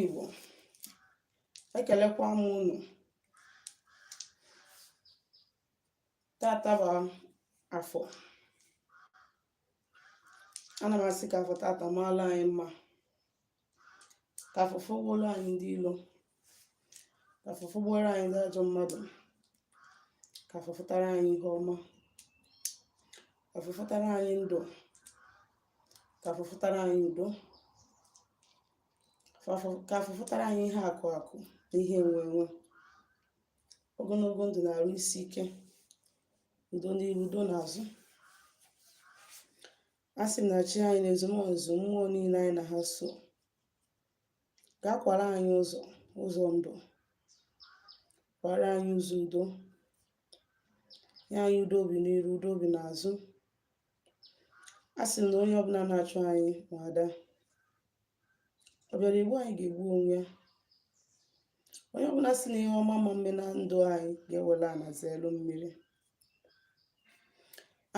Igbo ekelekwa m unu tata bụ afọ ana m asị ka afọ tata maala anyị mma ka afọ fọgbuoro anyị ndị ilo ka afọ fọgbuoro anyị ndị ajọ mmadụ ka afọ fụtara anyị ihe ọma ka afọ fụtara anyị ndụ ka afọ fụtara anyị udo ka afọ fụtara anyị ihe akụ akụ na ihe enwe enwe ogologo ndụ na arụ isi ike udo n'iru udo n'azụ a sị na chi anyị na ezumezu mmụọ niile anyị na ha so ga-akwara anyị ụzọ ụzọ ndụ kwara anyị ụzọ udo nye anyị udo obi n'iru udo obi n'azụ a sị na onye ọbụla na-achụ anyị ma ada ọ bịara igbu anyị ga-egbu onwe ya onye ọbụla sị na ihe ọma ama mme na ndụ anyị ga-ewere ana zeelu mmiri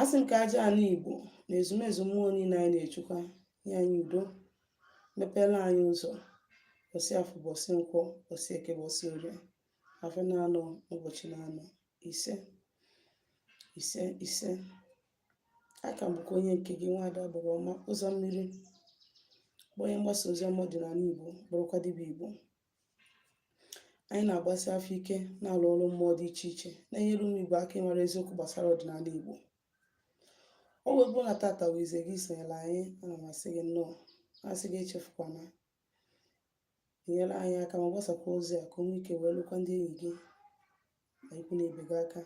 a sị m ka aja ana igbo na ezumezu mmụọ niile anyị na-echukwa nye anyị udo mepere anyị ụzọ ụbọsị afọ ụbọsị nkwọ ụbọsị eke ụbọsị orie afịa na-anọ ụbọchị na-anọ ise ise ise aka m bụkwa onye nke gị nwaada bụrụ ọma ụzọ mmiri bụ onye mgbasa ozi ọma ọdịnala igbo bụrụkwa dibịa igbo anyị na-agbasi afa ike na-alụ ọrụ mmụọ dị iche iche na-enyere ụmụ igbo aka ịmara eziokwu gbasara ọdịnala igbo ọ wee bụrụ na tata bụ izizi gị isonyere anyị ana m asị gị nnọọ asị gị echefukwana nyere anyị aka ma gbasakwa ozi a ka o nwee ike wee lukwa ndị enyi gị na ikwu na ibe gị aka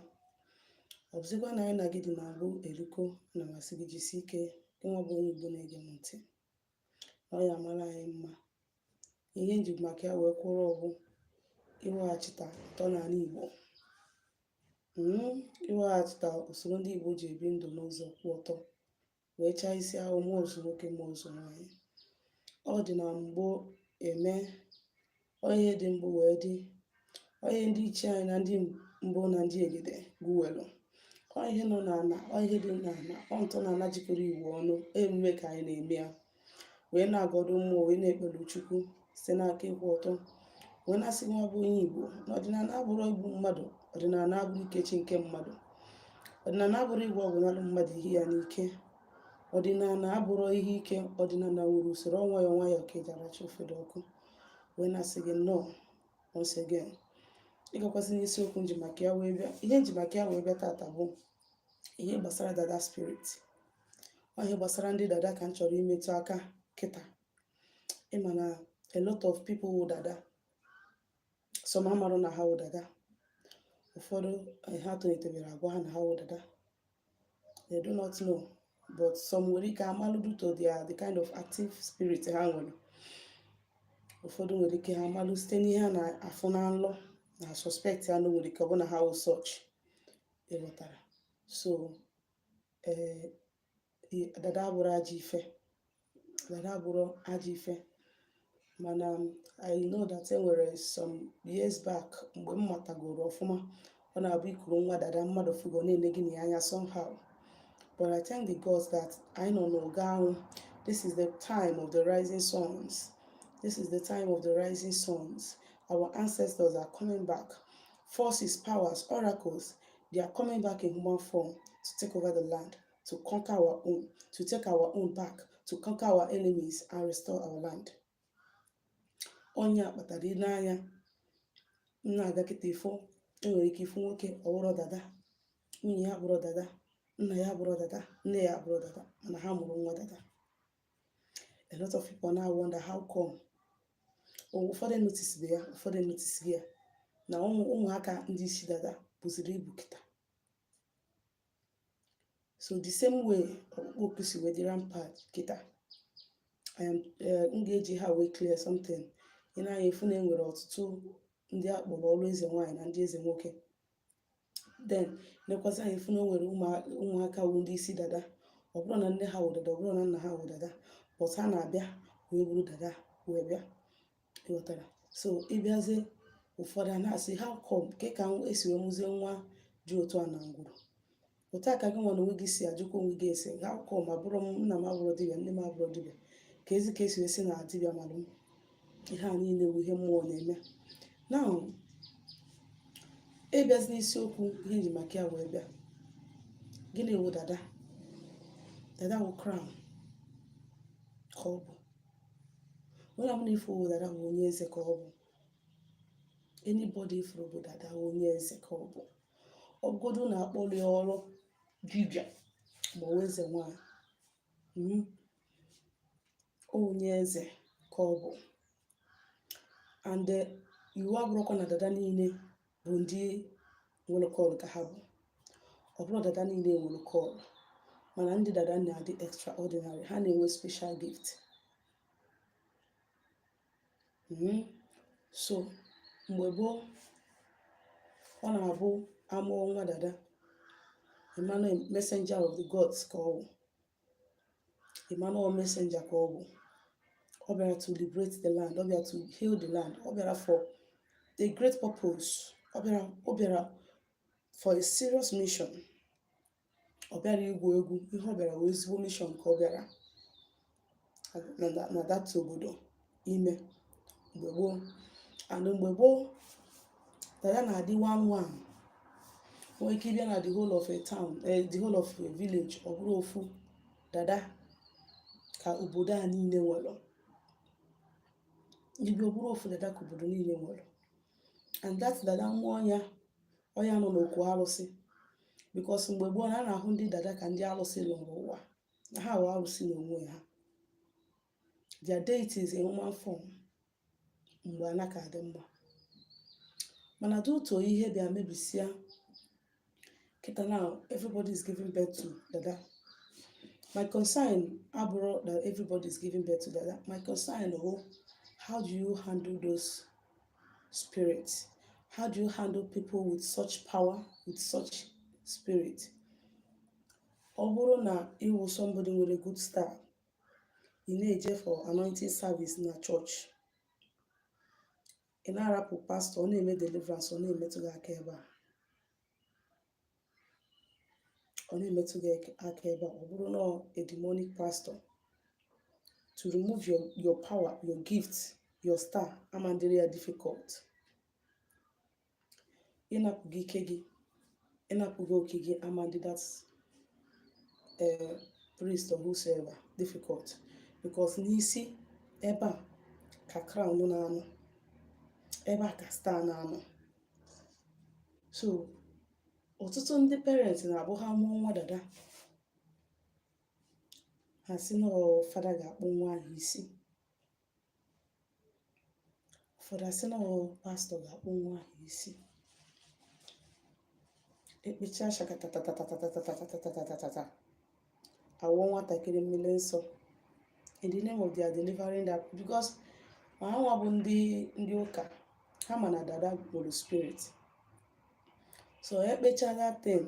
ọ bụzikwa na anyị na gị dị na mbụ erikọ ana m asị gị jisi ike gị nwa bụ onye igbo na-ege m ntị na ọ ya-amara anyị mma ihe m ji maka ya wee kwụrụ ọ bụ iweghachita ntọ na ala igbo iweghachita usoro ndị igbo ji ebi ndụ n'ụzọ kwụ ọtọ wee chaa isi awọ mụọ ozu nwoke mụọ ozu nwaanyị ọ dị na mgbo eme ọ ihe dị mbụ wee dị ọ ihe ndị ichie anyị na ndị mbụ na ndị egede guwelu ọ ihe nọ n'ala ọ ihe dị n'ala ọ ntọ na ala jikọrọ igbo ọnụ emume ka anyị na-eme ya wee na-agọdụ mmụọ wee na-ekpere chukwu si n'aka ịkwụ ọtọ wee na-asị nwa bụ onye igbo na ọdịnala abụrọ igbu mmadụ ọdịnala abụrọ ikechi nke mmadụ ọdịnala abụrọ ịgwọ ọgwụ nalụ mmadụ ihe ya n'ike ọdịnala abụrọ ihe ike ọdịnala nwere usoro ọ nwayọ nwayọ ka eji aracha ofe dị ọkụ wee na-asị gị nnọọ once again ịgakwasị n'isiokwu m ji maka ya wee bịa ihe m ji maka ya wee bịa tata bụ ihe gbasara dada spirit ihe gbasara ndị dada ka m chọrọ imetụ aka kịta ịma na a lot of people wụ dada some amarụ na ha wụ dada ụfọdụ eh, ha tolitere agwa ha na ha wụ dada they do not know but some nwere ike amalụ due to their the kind of active spirit ha nwere ụfọdụ nwere ike ha amalụ site n'ihe ha na-afụ na nlọ na suspect ya na nwere ike ọ bụ na ha wụ such ịghọtara so ee dada abụrọ ajọ ife dada abụrọ ajọ ife mana um, I know that e nwere some years back mgbe m matagoro ọfụma ọ na-abụ ikuru nwa dada mmadụ fugo na-ene gị na ya anya somehow but I thank the gods that anyị nọ n'oge ahụ this is the time of the rising suns this is the time of the rising suns our ancestors are coming back forces powers oracles They are coming back in human form to take over the land, to conquer our own, to take our own back, to conquer our enemies and restore our land. Ọ nya kpatara i ne anya na-aga kịta ị fụ e nwere ike ịfụ nwoke ọ bụrọ dada nwunye ya abụrọ dada nna ya abụrọ dada nne ya abụrọ dada mana ha mụrụ nwa dada a lot of people na-awonder how come ụfọdụ notisiri ya ụfọdụ notisiri ya na ụmụ ụmụaka ndị isi dada buziri ibu kịta so the same way ọkpụkpọ oku si wee dị rampant kịta I am eh, m ga-eji ha wee clear something i ne anya ị fụ na e nwere ọtụtụ ndị a kpọrọ ọlụ eze nwaanyị na ndị eze nwoke then nekwazị anya ị fụ na o nwere ụmụaka wụ ndị isi dada ọ bụrọ na nne ha wụ dada ọ bụrọ na nna ha wụ dada but ha na-abịa wee bụrụ dada wee bịa ịghọtara so ịbịazie ụfọdụ a na-asị how come kee ka e si wee mụzie nwa dị otu a na ngwuru otu a ka gị nwa na onwe gị si ajụkwa onwe gị asị how come abụrọ m nna m abụrọ dibịa nne m abụrọ dibịa kezi ka e si asị na dibịa mara m ihe a niile bụ ihe mmụọ na-eme now ịbịazi n'isiokwu ihe m ji maka ya wee bịa gịnị wụ dada dada wụ crown ka ọ bụ onye ọbụla ị fụ wụ dada bụ onye eze ka ọ bụ anybody ị fụrụ bụ dada onye eze ka ọ bụ ọ bụgodu na akpọrọ ya ọrụ dibịa ma ọ eze nwanyị hmm? onye eze ka ọ bụ and eh, iwu abụrọkwa na dada niile bụ ndị nwere call ka ha bụ ọ bụrọ dada niile nwere call mana ndị dada na-adị extraordinary ha na-enwe special gift Mhm. So mgbe gboo, ọ na-abụ a mụọ nwa dada, ị ma na ọ messenger of the gods ka ọ bụ, ị ma na ọ messenger ka ọ bụ. Ọ bịara to liberate the land, ọ bịara to heal the land, ọ bịara for a great purpose, ọ bịara ọ bịara for a serious mission. ọ bịarọ igwu egwu ihe ọ bịara wụ ezigbo mission ka ọ bịara na that obodo ime mgbe gboo and mgbe gboo dada na-adị one one nwere ike ịbịa na the whole of a town eh, the whole of a village ọ bụrụ ofu dada ka obodo a niile nwere ibi ọ bụrụ ofu dada ka obodo niile nwere and that dada nwa ọ nya ọ ya nọ n'okwu alụsị because mgbe gboo na a na-ahụ ndị dada ka ndị alụsị lọrọ ụwa na ha wụ alụsị n'onwe ha they are deities in human form mgbe ana ka adị mma mana due to ihe bịa mebisia kịta now everybody is giving birth to dada my concern abụrọ that everybody is giving birth to dada my concern wụ how do you handle those spirit? How do you handle people with such power, with such spirit? Ọ bụrụ na ịwụ somebody nwere good star, ị na-eje for anointing service na church, ị na-arapụ pastor, ọ na-eme deliverance, ọ na-emetụ gị aka ebe a. ọ na-emetụ gị aka ebe a ọ bụrụ na a demonic pastor to remove your, your power your gift your star amandịrị ya difficult ịnapụ gị ike gị ịnapụ gị oke gị amandị that uh, priest or whosoever difficult because n'isi ebe a ka crown na-anọ ebe a ka star na-anọ so ọtụtụ ndị parents na-abụ ha mụọ nwa dada ha sị na ọ fada ga-akpụ nwa ahụ isi ụfọdụ asị na ọ pastor ga-akpụ nwa ahụ isi ekpecha shaka tatatatatatatatatatatata awụọ nwatakịrị mmiri nsọ in the name of they are delivering that because ma ha nwa bụ ndị ndị ụka ha ma na dada nwere spirit so ekpecha that thing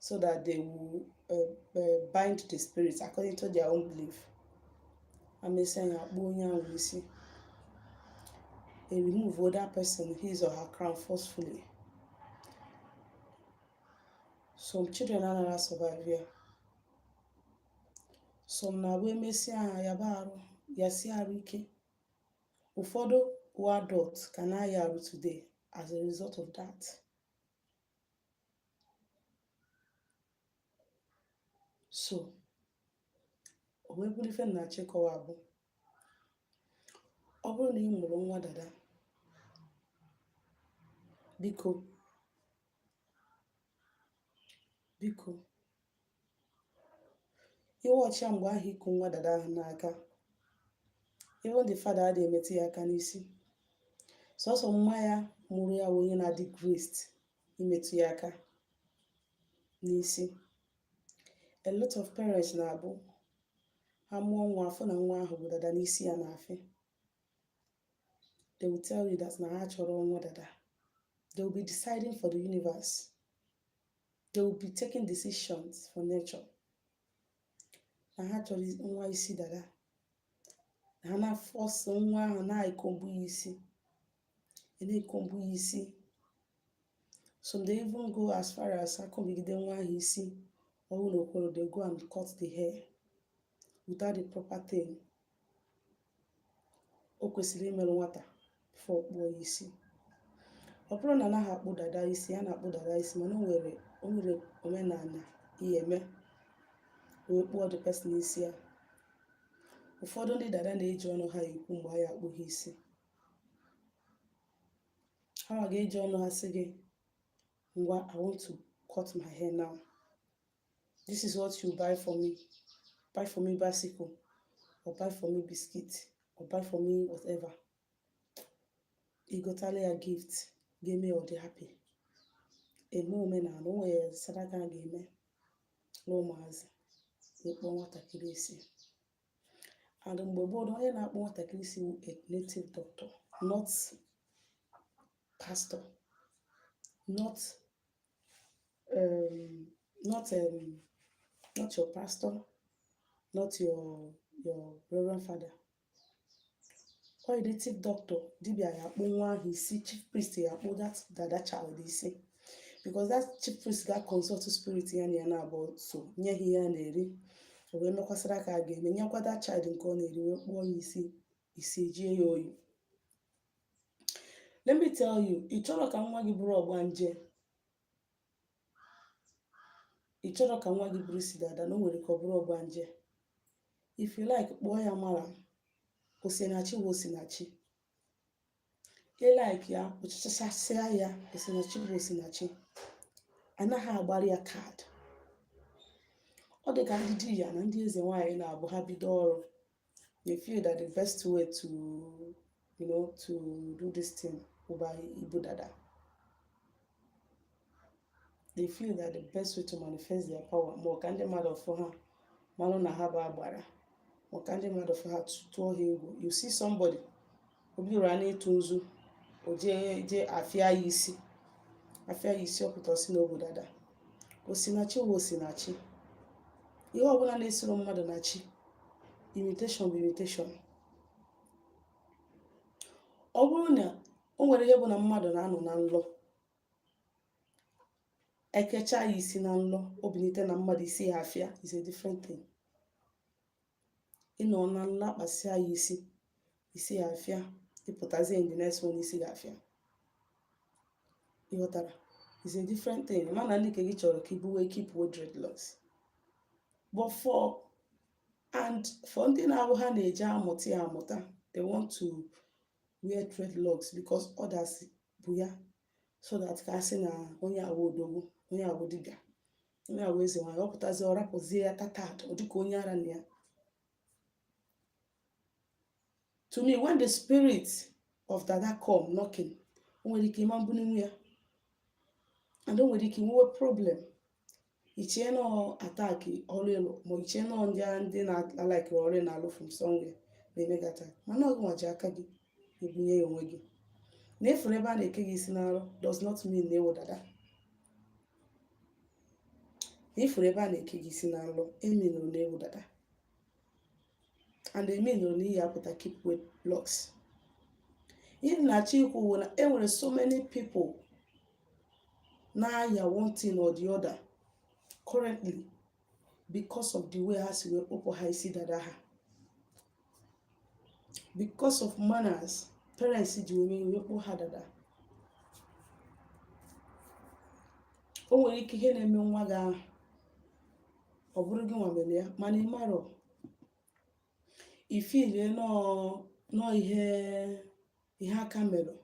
so that they will uh, uh, bind the spirit according to their own belief emesịa ya akpụọ onye ahụ isi they remove that person his or her crown forcefully some children anaghị asurvive ya some na-abụ emesịa ha yaba arụ yasi arụ ike ụfọdụ wụ adult ka na-aya arụ today as a result of that so o wee bụrụ ife m na-achọ ịkọwa abụ ọ bụrụ na ị mụrụ nwa dada biko biko ị wụ chi ya mgbe ahụ ị ku nwa dada ahụ n'aka even the father adịghị emetụ ya aka n'isi sọsọ mma ya mụrụ ya wụ onye na-adị graced imetụ ya aka n'isi a lot of parents na-abụ ha mụọ nwa afụ na nwa ahụ bu dada n'isi ya na-afị they will tell you that na ha achọrọ nwa dada they will be deciding for the universe they will be taking decisions for nature na ha achọrọ nwa isi dada a na-aforce nwa ahụ na-ekombu ya isi na-ekombu ya isi some dey even go as far as ekombigide nwa ahụ isi ọ hụ na o kwerọ they go and cut the hair without the proper thing o kwesịrị imeru nwata before ọ kpụọ ya isi ọ bụrọ na anaghị akpụ dada isi a na-akpụ dada isi mana o nwere o nwere omenala ị ya-eme wee kpụọ the person isi ya ụfọdụ ndị dada na-eji ọnụ ha ekwu mgbe a ya-akpụ ha isi hanwa ga-eji ọnụ ha sị gị ngwa i want to cut my hair now this is what you buy for me buy for me bicycle or buy for me biscuit or buy for me whatever ị gotala ya gift ga-eme ọ dị happy emee omenala o nwere sadaka a ga-eme nye ụmụazị ịkpụ nwatakịrị isi and mgbe gboo onye na-akpụ nwatakịrị isi wụ a native doctor not pastor not um, not um, not your pastor, not your your reverend father. Ọ wụ a native doctor, dibia ya akpụ nwa ahụ isi, chief priest ya akpụ that dada child isi. Because that chief priest ga consult spirit ya na ya na-abụ so nye ihe ya na-eri. O wee mekwaa saraka a ga-eme nyekwa that child nke ọ na-eri wee kpụọ ya isi isi ejie ya oyi let me tell you ị chọrọ ka nwa gị bụrụ ọgbanje ị chọrọ ka nwa gị bụrụ isi dada na o nwere ka ọ bụrụ ọgbanje if you like kpụọ ya mara osinachi wụ osinachi ka ị like ya kpụchachasịa ya osinachi bụ osinachi anaghị agbara ya kaadị ọ dị ka ndị dibịa na ndị eze nwaanyị na-abụ ha bido ọrụ they feel that the best way to you know to do this thing bụ by ibu dada they feel that the best way to manifest their power ma ọ ka ndị mmadụ fụ ha malụ na ha bụ agbara ma ọ ka ndị mmadụ fụ ha tụọ ha egwu you see somebody obi ụra na-etu nzu o jee jee afịa ya isi afịa ya isi ọ pụta ọ sị na o bu dada osinachi wụ osinachi ihe ọbụla na-esiro mmadụ na chi imitation bụ imitation ọ bụrụ na o nwere ihe bụ na mmadụ na-anọ na nlọ e kecha ya isi na nlọ o binite na mmadụ isi ya afịa is a different thing ị nọ na nlọ a kpasịa ya isi isi ya afịa ị pụtazie in the next one isi ya afịa ị ghọtara is a different thing mana ndị nke gị chọrọ ka i buwe keepwe dreadlocks but for and for ndị na-abụ ha na-eji amụta ya amụta they want to wear dreadlocks because others bu ya so that ka a sị na onye a wụ odogwu onye a wụ dibịa onye a wụ eze nwaanyị ọ pụtazi ọ rapụzie ya tattered ọ dịka onye ara na-aya to me when the spirit of dada come knocking o nwere ike ị ma mbụ na i nwe ya and o nwere ike i nwewe problem i chee na ọ attack ọrụ ịlụ ma i chee na ọ ndị a ndị na-alaiki ọrụ ị na-alụ from somewhere na-eme gị attack mana ọ gịnwa ji aka gị ebunye ya onwe gị na ị fụrụ ebe a na-eke gị isi na nlọ does not mean na ị wụ dada na ị fụrụ ebe a na-eke gị isi na nlọ emeanụrọ na ị wụ dada and emeanụrọ na ị ya-apụta keepwe locks ihe m na-achọ ikwu bụ na e nwere so many people na-aya one thing or the other currently because of the way ha si wee kpụpụ ha isi dada ha because of manners parents ji wee kpụ ha dada o nwere ike ihe na-eme nwa gị ahụ ọ bụrụ gịnwa mere ya mana ị marọ ị feelie na ọ ihe ihe aka mere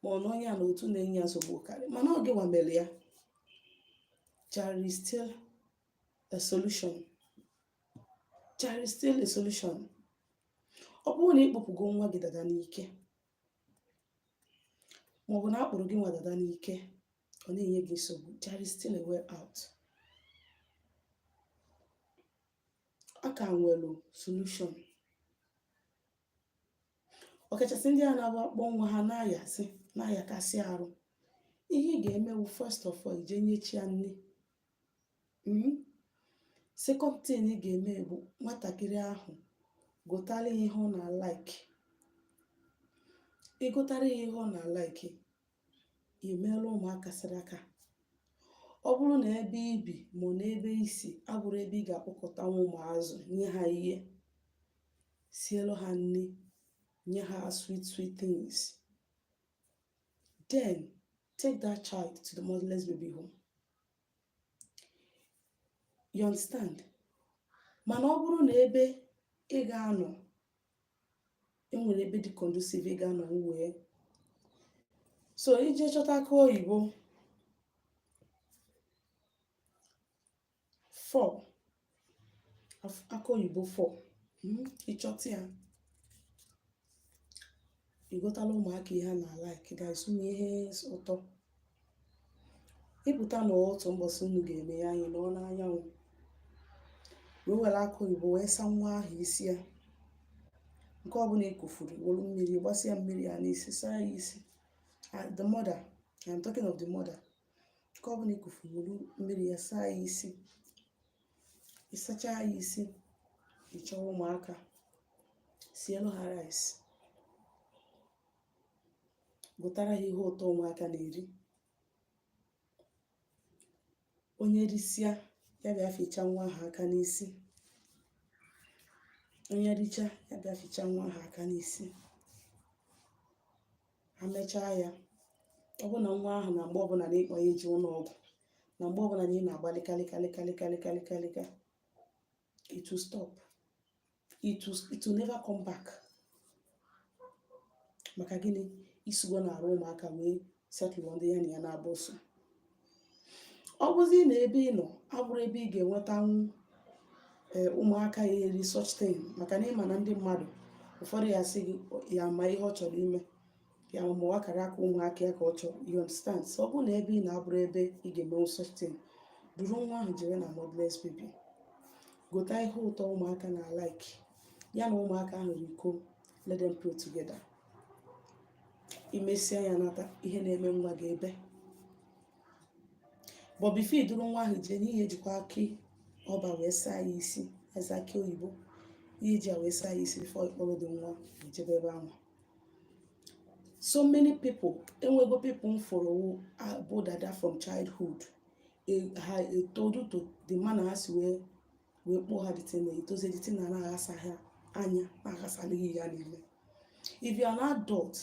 ma ọ na onye a na otu na-enye ya nsogbu karị mana ọ gịnwa mere ya there is still a solution there is still a solution ọ bụrụ na ị kpụpụgo nwa gị dada n'ike maọbụ na a kpụrụ gịnwa dada n'ike ọ na-enye gị nsogbu there is still a way out a ka nwere solution ọkachasị ndị a na-agba akpọ nwa ha na-ayasị na-ayakasị arụ ihe ị ga-eme bụ first of all ị je nye chi ya nni Mhm. second thing ị ga-eme bụ nwatakịrị ahụ gotara ya ihe ọ na-like ị gotara ya ihe ọ na-like i meela ụmụaka saraka ọ bụrụ na ebe i bi ma n'ebe i si abụrọ ebe ị ga-akpọkọtanwu ụmụazị nye ha ihe sielu ha nni nye ha sweet sweet things then take that child to the motherless baby home you understand mana ọ bụrụ na ebe ị ga-anọ enwere ebe dị conducive ị ga-anọ wee so ị je chọta akụ oyibo four akụ oyibo four hmm, ị chọta ya ị gotala ụmụaka ihe ha na-like gasị ụmụ ihe ụtọ ị pụta na otu mbọsị unu ga-eme ya anyị nọọ n'anyanwụ wee were akụ oyibo wee saa nwa ahụ isi ya nke ọbụna i kufuru wolu mmiri gbasịa mmiri ya n'isi saa ya isi ah, the mother I'm talking of the mother nke ọbụna i kufuru wolu mmiri ya saa ya isi ị sacha ya isi ị chọwa ụmụaka sielu ha rice gotara ha ihe ụtọ ụmụaka na-eri onye risịa ya bịa ficha nwa ahụ aka n'isi onye richa ya bịa ficha nwa ahụ aka n'isi ha mechaa ya ọ bụrụ na nwa ahụ na mgbe ọbụna na ị kpọ ya eje ụnọ ọgwụ na mgbe ọbụna na ị na-agba lịkalịkalịkalịkalịkalịkalịka it will stop it will, it will never come back maka gịnị i sigo n'arụ ụmụaka wee settle ndị ya na ya na-abụ so ọ bụzi na ebe ị nọ abụrọ ebe ị ga-enwetanwu ee eh, ụmụaka ya-eri such thing maka na ị ma na ndị mmadụ ụfọdụ ya sị gị ya ma ihe ọ chọrọ ime ya ma ọ akara aka ụmụaka ya ka ọ chọrọ you understand so ọ bụrụ na ebe ị nọ abụrọ ebe ị ga-emenwu such thing duru nwa ahụ jere na motherless baby gota ihe ụtọ ụmụaka na-like ya na ụmụaka ahụ rikọọ let them play together imesịa ya nata ihe na-eme nwa gị ebe but before iduru nwa ahụ jee n'iyi jikwa akị ọba wee saa ya isi aza akị oyibo ihe ji ya wee saa ya isi before ịkpọrọ the nwa ejebe ebe ahụ so many people enwego people m fụrụ bụ dada from childhood e- but due to the manner ha si wee wee kpụọ ha the thing etozie the thing na-aghasa ha anya na-aghasalị ha ihe niile if you are an adult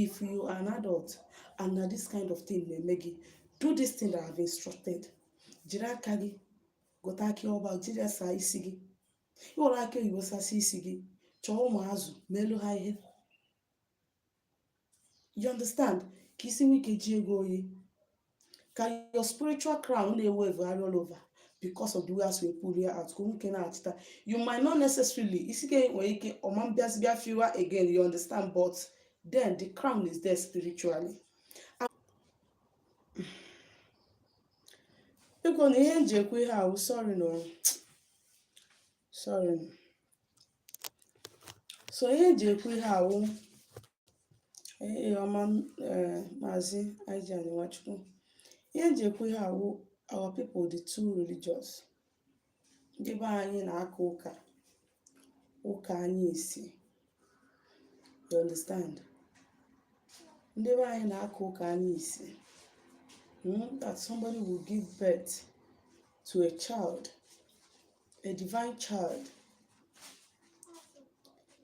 if you are an adult and na this kind of thing na-eme gị do this thing that I have instructed jiri aka gị gota akị ọba jiri ya saa isi gị ị were akị oyibo sasị isi gị chọọ ụmụazụ meelu ha ihe you understand ka isi nwee ike jụọ gị oyi ka your spiritual crown na-evugharị all over because of the way e si wee pull ya out ka o nwee ike nachita you might not necessarily isi gị nwere ike ọ ma abịazi bịa fuwe again you understand but then the crown is there spiritually biko na ihe nji ekwu ihe ahụ sorry no sorry so ihe eji ekwu ihe a wụ ọma eh, maazị Ije Nwachukwu ihe eji ekwu ihe a wụ our people dị too religious ndị be anyị na-aka ụka ụka anya isi you understand ndị be anyị na-aka ụka anya isi hmm, that somebody will give birth to a child a divine child,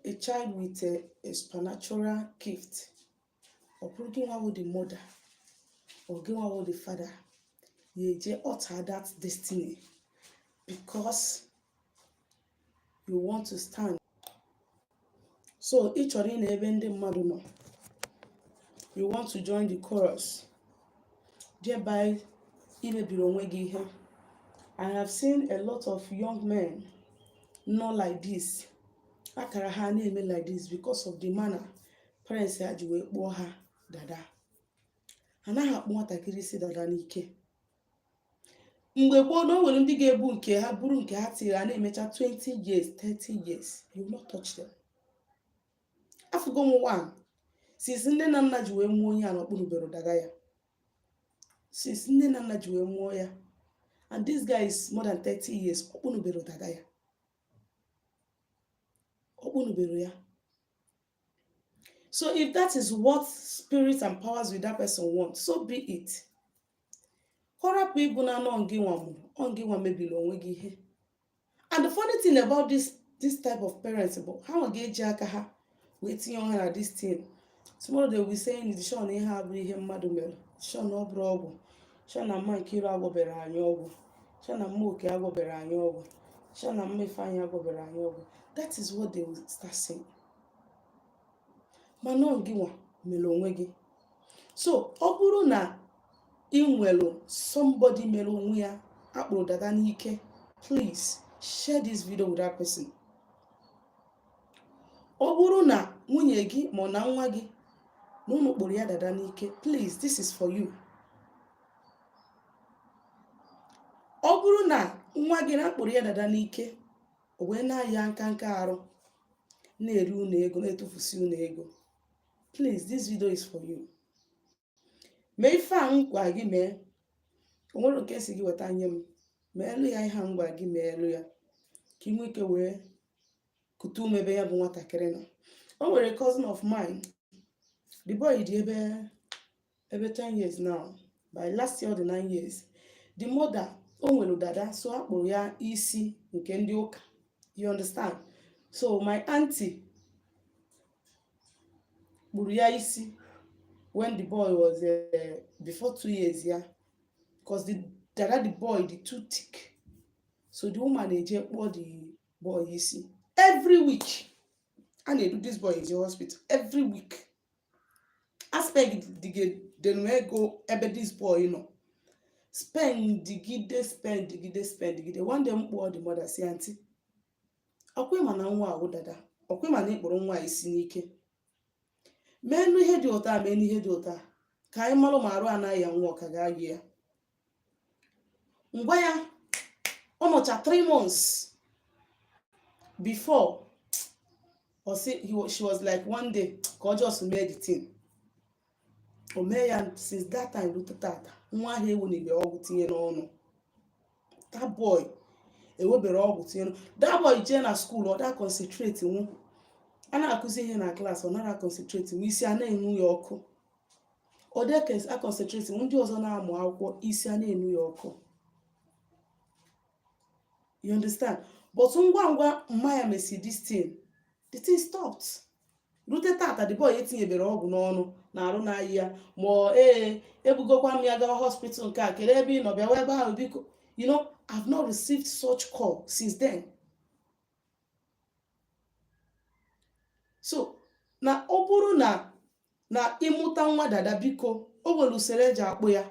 a child with a, a supernatural gift. Ọ bụrụ gị nwa bụ the mother, or gị nwa bụ the father, ị ya-eje alter that destiny because you want to stand so ị chọrọ ịnọ ebe ndị mmadụ nọ you want to join the chorus thereby ị mebiri onwe gị ihe i have seen a lot of young men nọ like this akara ha na-eme like this because of the manner parents ha ji wee kpụọ ha dada anaghị akpụ nwatakịrị isi dada n'ike mgbe gboo na o nwere ndị ga-ebu nke ha buru nke ha till ha na-emecha 20 years 30 years you will not touch them afụgo m one since nne na nna ji wee mụọ onye a na ọ kpụnubero dada ya since nne na nna ji wee mụọ ya and this guy is more than 30 years ọ kpụnubero dada ya ọ kpụnubero ya So if that is what spirit and powers with that person want, so be it. Ka ọ rapụ ịbụ na ọ ngị nwa mụrụ, ọ ngị nwa mebiri onwe gị ihe. And the funny thing about this this type of parents bụ ha nwa ga-eji aka ha wee tinye ha na this thing. Tomorrow they will be saying shị na ihe a bụrụ ihe mmadụ mere, shị na ọ bụrụ ọgwụ. shị na mma nkiru agwọbere anyị ọgwụ shị na mma oke agwọbere anyị ọgwụ shị na mma ifeanyị agwọbere anyị ọgwụ that is what they will start saying mana ọ gị nwa mere onwe gị so ọ bụrụ na ị nwere somebody mere onwe ya a kpụrụ dada n'ike please share this video with that person ọ bụrụ na nwunye gị ma ọ na nwa gị na unu kpụrụ ya dada n'ike please this is for you ọ bụrụ na nwa gị na a kpụrụ ya dada n'ike o wee na-aya nka nka arụ na-eri unu ego na-etufusi unu ego please this video is for you mee ife a m gwa gị mee o nwere nke a sị gị weta nye m meelụ ya ihe a m gwa gị meelụ ya ka ị nwee ike wee kutu ume ebe ya bụ nwatakịrị nọ o nwere cousin of mine the boy dị ebe ebe 10 years now by last year ọ dị 9 years the mother o nwere dada so a kpụrụ ya isi nke ndị ụka you understand so my auntie kpụrụ ya isi when the boy was uh, before two years yeah because the dada the boy dị too thick so the woman eje kpụọ the boy isi every week a na-edu this boy eje hospital every week a spend digidenu ego ebe this boy nọ spend digide spend digide spend digide one day m kpọọ the mother sị aunty ọkwa ị ma na nwa a wụ dada ọkwa ị ma na ị kpụrụ nwa a isi n'ike mee nụ ihe dị otu a mee nụ ihe dị otu a ka anyị malụ ma arụ a na-aya nwa ọ ka ga-aya ya ngwa ya ọ nọcha 3 months before ọ sị he wa- she was like one day ka ọ just mee the thing o mee ya since that time rute tata nwa ahụ ewenibe ọgwụ tinye n'ọnụ that boy ewebere ọgwụ tinye n'ọnụ that boy jee na school ọ da concentrate nwu a na-akụzi ihe na class ọ nara concentrate nwu isi a na-enwu ya ọkụ ọ dị a concentrate nwu ndị ọzọ na-amụ akwụkwọ isi a na-enwu ya ọkụ you understand but ngwa ngwa mma ya mesi this thing the thing stopped rute tata the boy etinyebere ọgwụ n'ọnụ na arụ na-arịa ya ma ee ebugokwa m ya gawa hospital nke a kelee ebe ị nọ bịawa ebe ahụ biko you know I've not received such call since then so na ọ bụrụ na ị mụta nwa dada biko o nwere usoro eji akpụ ya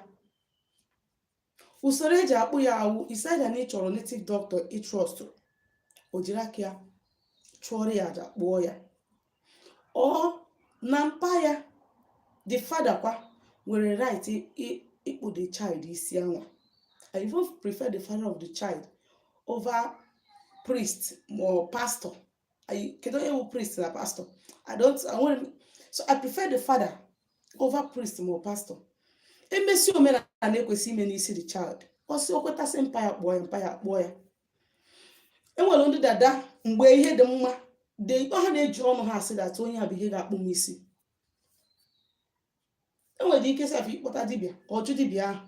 usoro eji akpụ ya wụ is either na ị chọrọ native doctor ị trust o jiri aka ya chụọrọ ya aja kpụọ ya or na mpa ya the father kwa nwere right ịkpụ the child isi anwa i even prefer the father of the child over priest or pastor kedu onye wụ priest na pastor i don't enwere m so i prefer the father over priest ma pastor emesi omenala na-ekwesị ime n'isi the child ọ sị o kweta sị mpa ya kpụọ ya mpa ya kpụọ ya enwere ndị dada mgbe ihe dị mma dị ha na-eji ọnụ ha asị that onye a bụ ihe ga-akpụ m isi enwere ike sef ịkpọta dibịa ka ọ jụ dibịa ahụ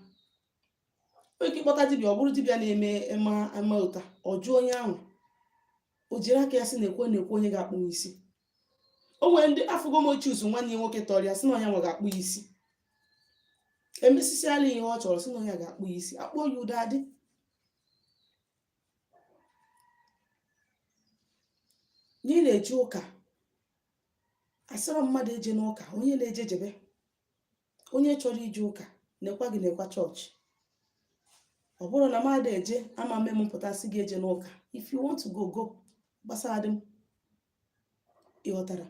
nwere ike ịkpọta dibịa ọ bụrụ dibịa na-eme ema ama ụta ọ jụ onye ahụ o jiri aka ya sị nekwa nekwa onye ga-akpụ m isi o nwere ndị afụgo m o choose nwanne ya nwoke tọrọ ya sị na onye nwa ga-akpụ ya isi emesisiala ihe ọ chọrọ sị na onye ga-akpụ ya isi akpụọ ya udo adị na ị na-eje ụka asịrọ mmadụ ejena ụka onye na-eje jebe onye chọrọ ije ụka nekwa gị nekwa chọọchị ọ bụrụ na mụ adị eje ama mme m pụta sị gị ejena ụka if you want to go go gbasara dị m ịghọtara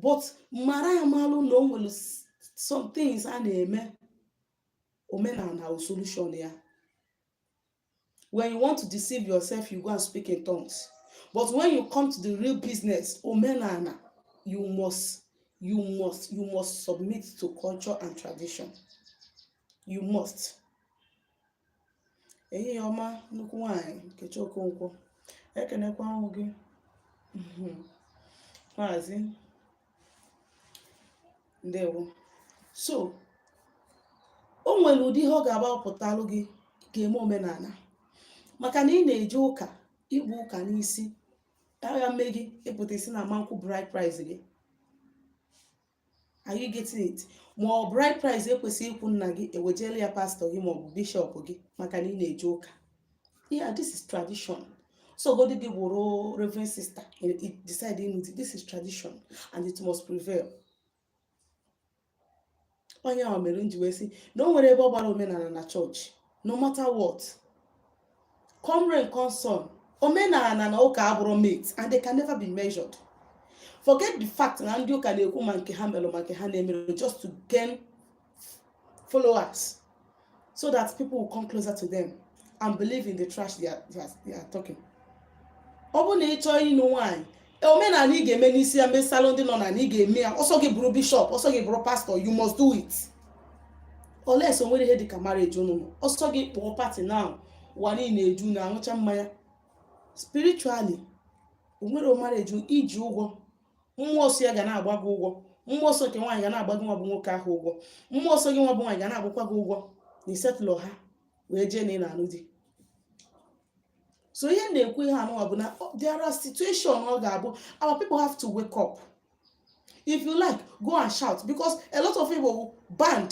but mara amalụ na o nwere s- some things a na-eme omenala ọ solution ya when you want to deceive yourself you go and speak in tongues but when you come to the real business omenala you must you must you must submit to culture and tradition you must ehihie ọma nnukwu nwanyị nkechi okonkwo ekenekwa mụ gị Mhm. maazị ndewo so o nwere ụdị ihe ọ ga-agbapụtalụ gị ga-eme omenala maka na ị na-eje ụka ibu ụka n'isi agha mme gị ịpụta ị sị na ama nkwụ bride price gị are you getting it ma ọ bride price ekwesị ịkwụ nna gị ewejela ya pastor gị maọbụ bishop gị maka na ị na-eje ụka yeah this is tradition ọ sọgodi gị wụrụ reverend sister decide ịnụ di this is tradition and it must prevail onye ahụ mere m ji wee sị na o nwerọ ebe ọ gbara omenana na church no matter what come rain come sun omenana na ụka abụrọ mate and they can never be measured forget the fact na ndị ụka na-ekwu ma nke ha melu ma nke ha na-emerọ just to gain followers so that people will come closer to them and believe in the trash they are, they are, they are talking. ọ bụrụ na ị chọọ ịnụ nwaanyị omenala ị ga-eme n'isi ya mesalụ ndị nna nna ị ga-eme ya ọ sọ gị bụrụ bishop ọ sọ gị bụrụ pastor you must do it unless o nwerọ ihe dịka marriage unu ọ sọ gị kpọọ party na ụwa niile eju na-aṅụcha mmanya spiritually o nwerọ marriage i ji ụgwọ mmụọ so ya ga na-agba gị ụgwọ mmụọ so nke nwaanyị ga na-agba gị nwa bụ nwoke ahụ ụgwọ mmụọ so gị nwa bụ nwaanyị ga na-agbakwa gị ụgwọ na i settlerọ ha wee jee na ị na-anụ di so ihe m na-ekwu ihe a nụwa bụ na ọ dịrọ situation ọ ga-abụ our people have to wake up if you like go and shout because a lot of people will band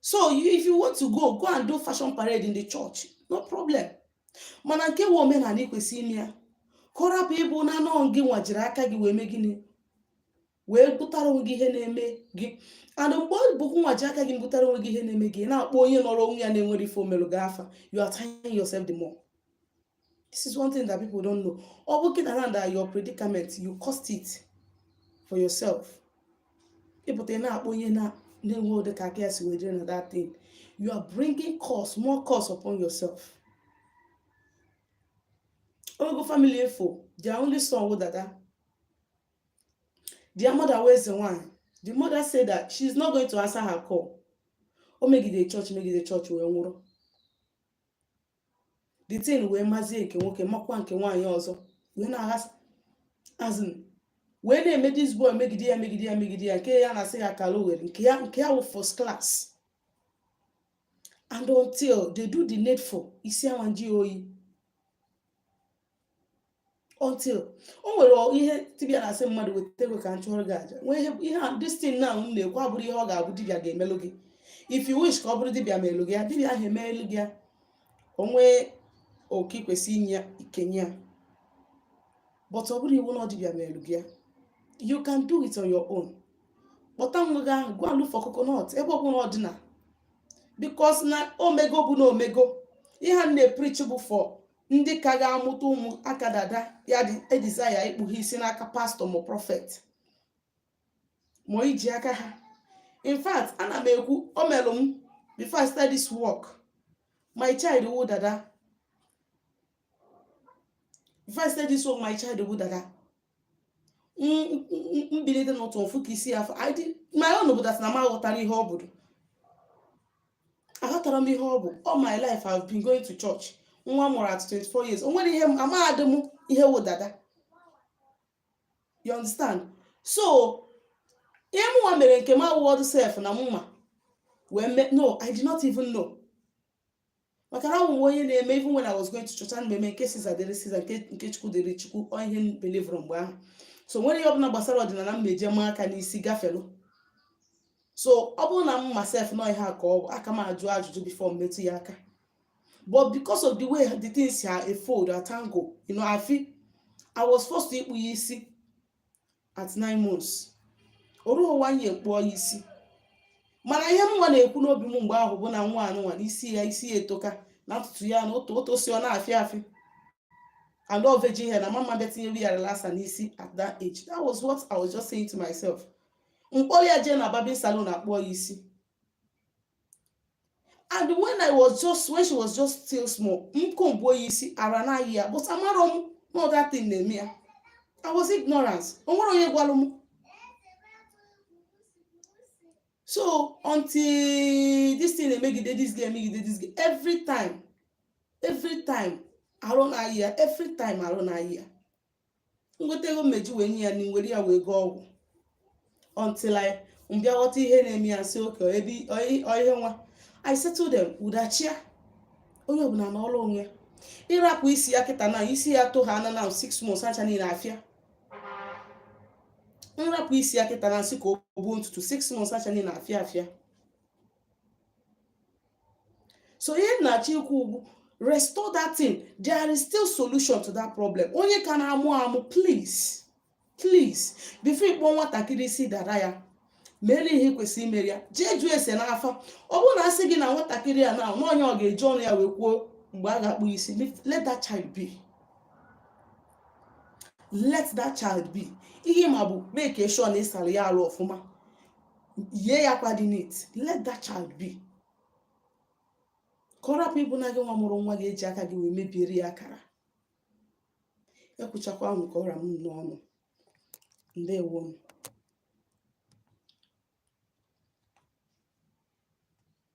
so you, if you want to go go and do fashion parade in the church no problem mana nke wụ omenala i kwesị ime ya ka ọ rapụ ịbụ na ọ gị nwa jiri aka gị wee mee gịnị wee butara onwe gị ihe na-eme gị and mgbe ọ bụ gị nwa jiri aka gị butara onwe gị ihe na-eme gị na-akpọ onye nọrọ onwe ya na-enwerọ ife o melu gị afa you are tying yourself the more this is one thing that people don't know ọ bụ kịta na that your predicament you caused it for yourself ị pụta na-akpọ onye na-enwe ụdị ka aka ya si dịrị na that thing you are bringing curse more curse upon yourself ogo family efo their only son wụ dada their mother wụ eze nwanyị the mother said that she is not going to answer her call o megide church megide church wee nwụrụ the thing wee mazie nke nwoke makwa nke nwaanyị ọzọ wee na-aghasa as in wee na-eme this boy megide ya megide ya megide ya nke a na-asị akalogheri nke ya wụ first class and until they do the needful isi awa njụ oyi until o nwere ihe dibịa na-asị mmadụ weta ego ka m chụọrọ gị aja nwee ihe ihe a this thing na m na-ekwu abụrọ ihe ọ ga-abụ dibịa ga-emelụ gị if you wish ka ọ bụrụ dibịa melụ gị ya dibịa ahụ emelụ gị ya o nwee oke i kwesị inye ya i kenye ya but ọ bụrọ iwu na ọ dibịa melụ gị ya you can do it on your own kpọta nwa gị ahụ go and look for coconut ebe ọ bụla ọ dị na because na o mego bụ na o mego ihe a na-epreach bụ for ndị ka ga-amụta ụmụ aka dada ya adịzịla ịkpụ ha isi n'aka pastor ma prophet ma iji aka ha in fact ana m ekwu o melụ m before I start this work my child wụ dada before I start this work my child wụ dada m bilite n'ụtụtụ m fụ ka isi afọ my own bụ that na m aghọtarọ ihe ọ bụ aghọtarọ m ihe ọ bụ all my life I've been going to church nwa m mụrụ at 24 years o nwere ihe amaghadị m ihe wụ dada you understand so ihe mụnwa mere nke m awụọdụ sef na m ma wee mee no I did not even know maka na awụwe onye na-eme even when I was going to church ana m eme nke Caesar dịrị Caesar nke chukwu dịrị chukwu ọ ihe m believe-rụ mgbe ahụ so o nwerọ ihe ọbụla gbasara ọdịnala m na-eji m aka n'isi gafelu so ọ bụrụ na m ma sef na ọ ihe a ka ọ bụ aka m ajụ ajụjụ before m metụ ya aka but because of the way the thing si a-fold a-tangle you know I feel I was forced to ịkpụ ya isi at nine months o ruhụ one year m kpụọ ya isi mana ihe mụnwa na-ekwu n'obi m mgbe ahụ bụ na nwa anụnwa na isi ya isi ya etoka na ntutu ya na otu o si ọ na-afịa afịa and ọ virgin hair na m ama abịa tinyere ya relaxer n'isi at that age that was what I was just saying to myself m kpọrọ ya jee na barbing salon a kpụọ ya isi and when i was just when she was just still small m comb-uo ya isi arụ na-ayị ya but amarọ m na ọ that thing na-eme ya i was ignorant o nwerọ onye gwara m so until this thing emegide this game emegide this game every time every time arụ na-ayị ya every time arụ na-ayị ya m nweta ego m me-eji wee nye ya nri m were ya wee gọọ ọgwụ until I m bịa ghọta ihe na-eme ya m sị okay ebe ihe nwa I settle them udo achịa onye ọbụla anọrọ onwe ya ị rapụ isi ya kịta na isi ya to ha ana na six months acha niile afịa m rapụ isi ya kịta na m sị ka o buo ntutu six months acha niile afịa afịa so ihe m na-achọ ikwu ugwu restore that thing there is still solution to that problem onye ka na-amụ amụ please please before ịkpụ nwatakịrị isi dada ya mere ihe kwesịrị imere ya jee jụọ ese n'afa ọ bụrụ na a sị gị na nwatakịrị a n'onwe ya ga-eji ọnụ ya wee kwuo mgbe a ga-akpụ isi let that child be let that child be ihe m ma bụ make sure na ị sara ya arụ ọfụma yie ya akwa dị neat let that child be ka ọ rapụ ịbụ na gị nwa mụrụ nwa ga-eji aka gị wee mebiere ya akara ekwuchakwa m ka ọ ra m n'ọnụ ndewo nụ